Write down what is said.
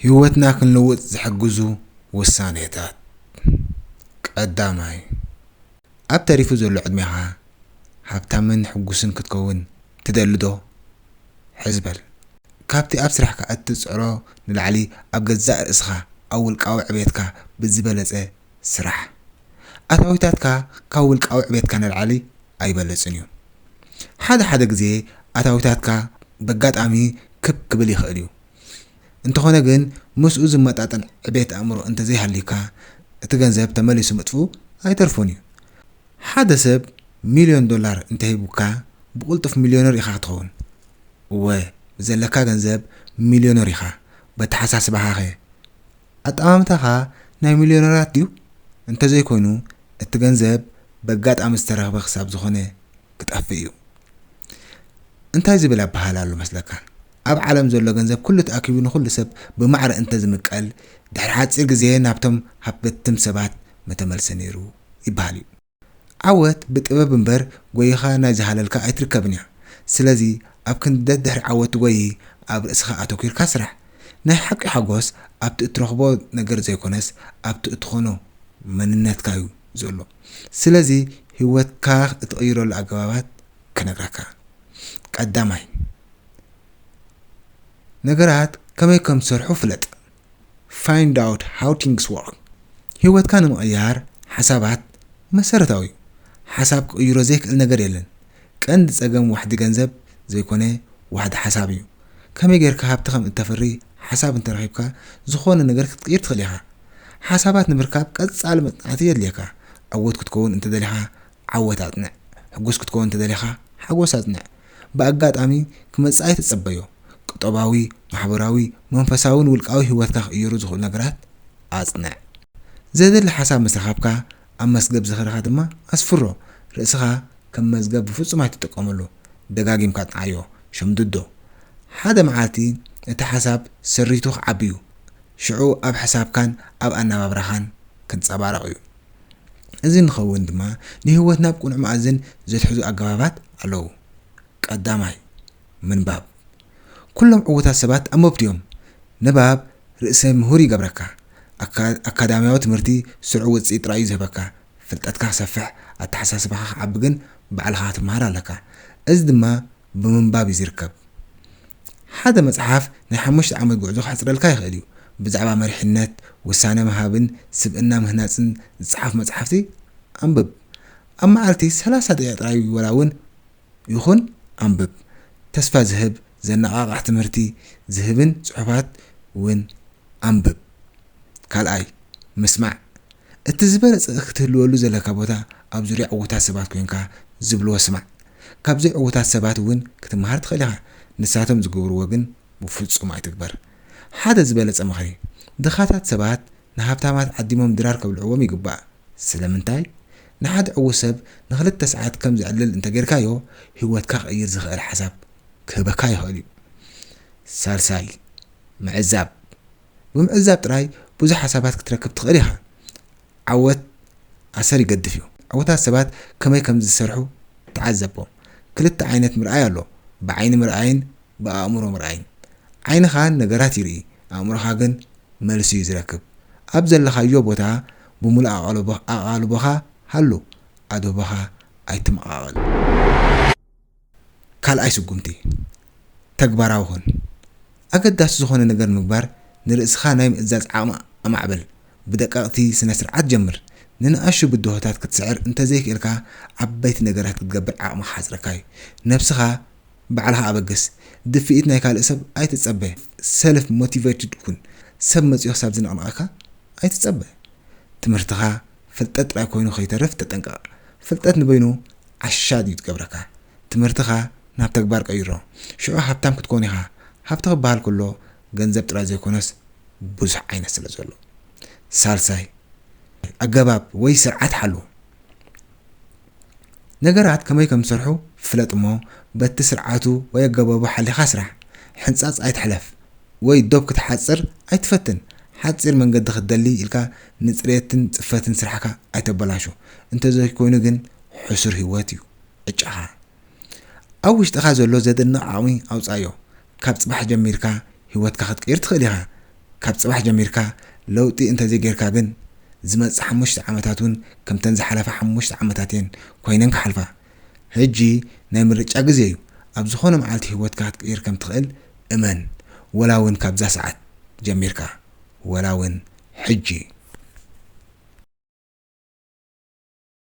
ህይወትና ክንልውጥ ዝሕግዙ ውሳኔታት፣ ቀዳማይ፣ ኣብ ተሪፉ ዘሎ ዕድሜኻ ሃብታምን ሕጉስን ክትከውን ትደሊ'ዶ? ሕዚ በል። ካብቲ ኣብ ስራሕካ እትጽዕሮ ንላዕሊ ኣብ ገዛእ ርእስኻ፣ ኣብ ውልቃዊ ዕቤትካ ብዝበለጸ ስራሕ። ኣታዊታትካ ካብ ውልቃዊ ዕቤትካ ንላዕሊ ኣይበልጽን'ዩ። ሓደ ሓደ ግዜ ኣታዊታትካ በጋጣሚ ክብ ክብል ይኽእል'ዩ፣ እንተኾነ ግን ምስኡ ዝመጣጠን ዕቤት ኣእምሮ እንተዘይሃልዩካ እቲ ገንዘብ ተመሊሱ ምጥፍኡ ኣይተርፎን እዩ። ሓደ ሰብ ሚልዮን ዶላር እንተሂቡካ ብቕልጡፍ ሚልዮነር ኢኻ ክትኸውን? እወ ብዘለካ ገንዘብ ሚልዮነር ኢኻ። በተሓሳስባኻኸ? ኣጠማምታኻ ናይ ሚልዮነራት ድዩ? እንተዘይኮይኑ እቲ ገንዘብ በጋጣሚ ዝተረኽበ ክሳብ ዝኾነ ክጠፍእ እዩ። እንታይ ዝብል ኣበሃህላ ኣሎ መስለካ? ኣብ ዓለም ዘሎ ገንዘብ ኩሉ ተኣኪቡ ንኹሉ ሰብ ብማዕረ እንተ ዝምቀል፣ ድሕሪ ሓጺር ግዜ ናብቶም ሃብተትም ሰባት ምተመልሰ ነይሩ ይበሃል እዩ። ዓወት ብጥበብ እምበር ጎይኻ ናይ ዝሃለልካ ኣይትርከብን እያ። ስለዚ ኣብ ክንዲ ደድሕሪ ዓወት ትጎዪ ኣብ ርእስኻ ኣተኩርካ ስራሕ። ናይ ሓቂ ሓጎስ ኣብቲ እትረኽቦ ነገር ዘይኮነስ ኣብቲ እትኾኖ መንነትካ እዩ ዘሎ። ስለዚ ህይወትካ እትቕይረሉ ኣገባባት ክነግራካ። ቀዳማይ። ነገራት ከመይ ከም ዝሰርሑ ፍለጥ፣ Find out how things work፣ ህይወትካ ንምቕያር ሓሳባት መሰረታዊ እዩ፣ ሓሳብ ክቕይሮ ዘይክእል ነገር የለን፣ ቀንዲ ጸገም ዋሕዲ ገንዘብ ዘይኮነ ዋሕዲ ሓሳብ እዩ፣ ከመይ ጌርካ ሃብቲ ከም እተፍሪ ሓሳብ እንተረኺብካ ዝኾነ ነገር ክትቅይር ትኽእል ኢኻ፣ ሓሳባት ንምርካብ ቀጻሊ መጽናዕቲ የድልየካ፣ ዕዉት ክትከውን እንተደሊኻ ዓወት ኣጽንዕ፣ ሕጉስ ክትከውን እንተደሊኻ ሓጎስ ኣጽንዕ፣ ብኣጋጣሚ ክመጽእ ኣይትጸበዮ። ቁጠባዊ፣ ማሕበራዊ፣ መንፈሳውን ውልቃዊ ህይወትካ ክቕይሩ ዝኽእሉ ነገራት ኣጽንዕ። ዘድሊ ሓሳብ ምስ ረኸብካ ኣብ መስገብ ዝኽርኻ ድማ ኣስፍሮ። ርእስኻ ከም መዝገብ ብፍጹም ኣይትጥቀመሉ። ደጋጊምካ ኣጽንዓዮ። ሸምድዶ። ሓደ መዓልቲ እቲ ሓሳብ ሰሪቱ ክዓቢ'ዩ። ሽዑ ኣብ ሕሳብካን ኣብ ኣነባብራኻን ክንጸባረቕ'ዩ። እዚ ንኸውን ድማ ንህይወት ናብ ቅኑዕ መኣዝን ዘትሕዙ ኣገባባት ኣለዉ። ቀዳማይ፣ ምንባብ። ኩሎም ዕዉታት ሰባት ኣንበብቲ'ዮም። ንባብ ርእሰ ምሁር ይገብረካ። ኣካዳምያዊ ትምህርቲ ስሩዕ ውጽኢት ጥራይ'ዩ ዝህበካ። ፍልጠትካ ክሰፍሕ፣ ኣተሓሳስባኻ ክዓቢ ግን ባዕልኻ ክትመሃር ኣለካ። እዚ ድማ ብምንባብ እዩ ዚርከብ። ሓደ መጽሓፍ ናይ ሓሙሽተ ዓመት ጕዕዞ ኼሕጽረልካ ይኽእል እዩ። ብዛዕባ መሪሕነት፣ ውሳነ ምሃብን ስብእና ምህናጽን ዚጸሓፉ መጻሕፍቲ ኣንብብ። ኣብ መዓልቲ ሰላሳ ደቒቕ ጥራይ ዋላ እውን ይኹን ኣንብብ። ተስፋ ዚህብ፣ ዘነቓቕሕ ትምህርቲ ዚህብን ጽሑፋት እውን ኣንብብ። ካልኣይ፣ ምስማዕ፣ እቲ ዝበለጸ ክትህልወሉ ዘለካ ቦታ ኣብ ዙርያ ዕዉታት ሰባት ኮይንካ ዝብልዎ ስማዕ። ካብ ዘይዕዉታት ሰባት እውን ክትመሃር ትኽእል ኢኻ፣ ንሳቶም ዝገብርዎ ግን ብፍጹም ኣይትግበር። ሓደ ዝበለጸ ምኽሪ፣ ድኻታት ሰባት ንሃብታማት ዓዲሞም ድራር ከብልዕዎም ይግባእ። ስለምንታይ? ንሓደ ዕዉት ሰብ ንኽልተ ሰዓት ከም ዘዕልል እንተ ጌርካዮ፣ ህይወትካ ክቕይር ዝኽእል ሓሳብ ክህበካ ይኽእል እዩ። ሳልሳይ። ምዕዛብ፣ ብምዕዛብ ጥራይ ብዙሕ ሓሳባት ክትረክብ ትኽእል ኢኻ። ዓወት ኣሰር ይገድፍ እዩ። ዓወታት ሰባት ከመይ ከም ዝሰርሑ ተዓዘቦም። ክልተ ዓይነት ምርኣይ ኣሎ፣ ብዓይኒ ምርኣይን ብኣእምሮ ምርኣይን። ዓይንኻ ንነገራት ይርኢ፣ ኣእምሮኻ ግን መልሲ እዩ ዝረክብ። ኣብ ዘለኻዮ ቦታ ብምሉእ ኣቓልቦኻ ሃሉ፣ ኣድህቦኻ ኣይተመቓቕል። ካልኣይ ስጉምቲ፣ ተግባራዊ ኩን። ኣገዳሲ ዝኾነ ነገር ንምግባር ንርእስኻ ናይ ምእዛዝ ዓቕሚ ኣማዕብል። ብደቀቕቲ ስነ-ስርዓት ጀምር። ንንኣሽቱ ብድሆታት ክትስዕር እንተዘይክኢልካ ዓበይቲ ነገራት ክትገብር ዓቕሚ ክሓጽረካ እዩ። ነብስኻ ባዕልኻ ኣበግስ። ድፍኢት ናይ ካልእ ሰብ ኣይትጸበ። ሰልፍ ሞቲቨይትድ ኩን። ሰብ መጺኡ ክሳብ ዝንቕንቐካ ኣይትጸበ። ትምህርትኻ፣ ፍልጠት ጥራይ ኮይኑ ከይተርፍ ተጠንቀቕ። ፍልጠት ንበይኑ ዓሻ ድዩ ዝገብረካ? ትምህርትኻ ናብ ተግባር ቀይሮ። ሽዑ ሃብታም ክትኮን ኢኻ። ሃብቲ ክበሃል ከሎ ገንዘብ ጥራይ ዘይኮነስ ብዙሕ ዓይነት ስለ ዘሎ። ሳልሳይ፣ ኣገባብ ወይ ስርዓት ሓሉ። ነገራት ከመይ ከም ዝሰርሑ ፍለጥ እሞ በቲ ስርዓቱ ወይ ኣገባቡ ሓሊኻ ስራሕ። ሕንጻጽ ኣይትሕለፍ ወይ ዶብ ክትሓጽር ኣይትፈትን። ሓጺር መንገዲ ክትደሊ ኢልካ ንጽሬትን ጽፈትን ስራሕካ ኣይተበላሹ። እንተዘይኮይኑ ግን ሕሱር ህይወት እዩ ዕጫኻ። ኣብ ውሽጥኻ ዘሎ ዘደንቕ ዓቕሚ ኣውጽኣዮ። ካብ ጽባሕ ጀሚርካ ህይወትካ ክትቅይር ትኽእል ኢኻ። ካብ ጽባሕ ጀሚርካ ለውጢ እንተዘይጌርካ ግን፣ ዝመጽእ ሓሙሽተ ዓመታት እውን ከምተን ዝሓለፋ ሓሙሽተ ዓመታት እየን ኮይነን ክሓልፋ። ሕጂ ናይ ምርጫ ግዜ እዩ። ኣብ ዝኾነ መዓልቲ ህይወትካ ክትቅይር ከም ትኽእል እመን፣ ወላ እውን ካብዛ ሰዓት ጀሚርካ፣ ወላ እውን ሕጂ።